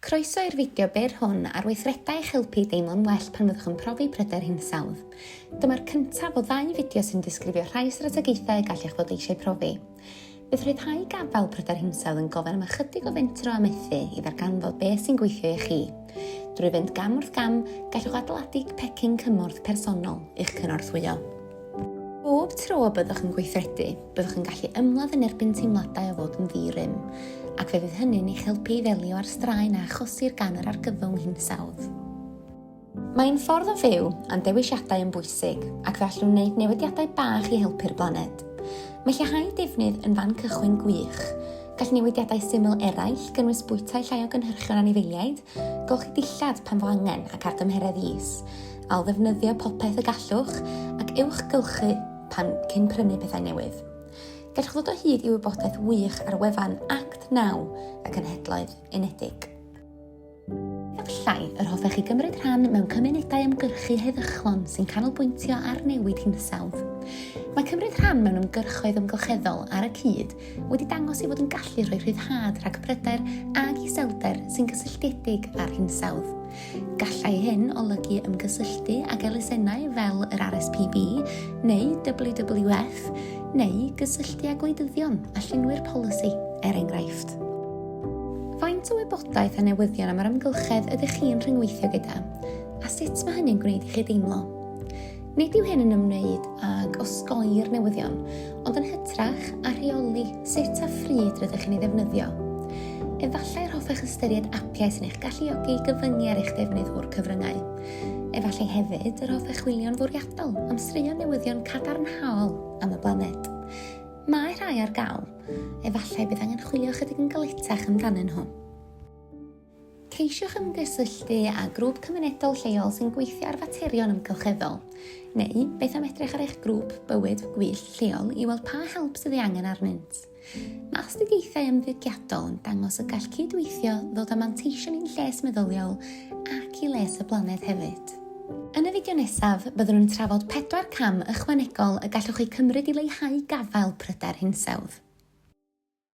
Croeso i'r fideo byr hwn ar weithredau i'ch helpu i deimlo'n well pan fyddwch yn profi pryder hinsawdd. Dyma'r cyntaf o ddau fideo sy'n disgrifio rhai strategaethau y gallech fod eisiau profi. Bydd rhyddhau gafael pryder hinsawdd yn gofyn am ychydig o fentro a methu i ddarganfod beth sy'n gweithio i chi. Drwy fynd gam wrth gam, gallwch adeiladu pecyn cymorth personol i'ch cynorthwyo. Bob tro y byddwch yn gweithredu, byddwch yn gallu ymladd yn erbyn teimladau o fod yn ddi-rym, ac fe fydd hynny'n eich helpu i ddelio â'r straen a achosir gan yr argyfwng hinsawdd. Mae'n ffordd o fyw, a'n dewisiadau yn bwysig, ac fe allwn wneud newidiadau bach i helpu'r blaned. Mae lleihau defnydd yn fan cychwyn gwych. Gall newidiadau syml eraill gynnwys bwytai llai o gynhyrchion anifeiliaid, Golchi dillad pan fo angen ac ar dymheredd is. Ailddefnyddio popeth y gallwch ac ewch gylchu pan cyn prynu pethau newydd. Gallwch ddod o hyd i wybodaeth wych ar wefan Act 9 y Cenhedloedd Unedig. Efallai yr hoffech chi gymryd rhan mewn cymunedau ymgyrchu heddychlon sy'n canolbwyntio ar newid hinsawdd. Mae cymryd rhan mewn ymgyrchoedd ymgylcheddol ar y cyd wedi dangos ei fod yn gallu rhoi rhyddhad rhag pryder ag iselder sy'n gysylltiedig â'r hinsawdd. Gallai hyn olygu ymgysylltu ag elusennau fel yr RSPB neu WWF neu gysylltu â gwleidyddion a llunwyr polisi, er enghraifft. Faint o wybodaeth a newyddion am yr amgylchedd ydych chi'n rhyngweithio gyda, a sut mae hynny'n gwneud i chi deimlo? Nid yw hyn yn ymwneud ag osgoi'r newyddion, ond yn hytrach â rheoli sut a phryd rydych chi'n ei ddefnyddio. Efallai yr hoffech ystyried apiau sy'n eich galluogi i gyfyngu ar eich defnydd o'r cyfryngau. Efallai hefyd yr hoffech chwilio'n fwriadol am straeon newyddion cadarnhaol am y blaned. Mae rhai ar gael. Efallai bydd angen chwilio ychydig yn galetach amdanyn nhw. Ceisiwch ymgysylltu â grŵp cymunedol lleol sy'n gweithio ar faterion amgylcheddol. Neu, beth am edrych ar eich grŵp bywyd gwyllt lleol i weld pa help sydd ei angen arnynt. Mae astudiaethau ymddygiadol yn dangos y gall cydweithio ddod â manteision i'n lles meddyliol ac i les y blaned hefyd. Yn y fideo nesaf, byddwn yn trafod pedwar cam ychwanegol y gallwch eu cymryd i leihau gafael pryder hinsawdd.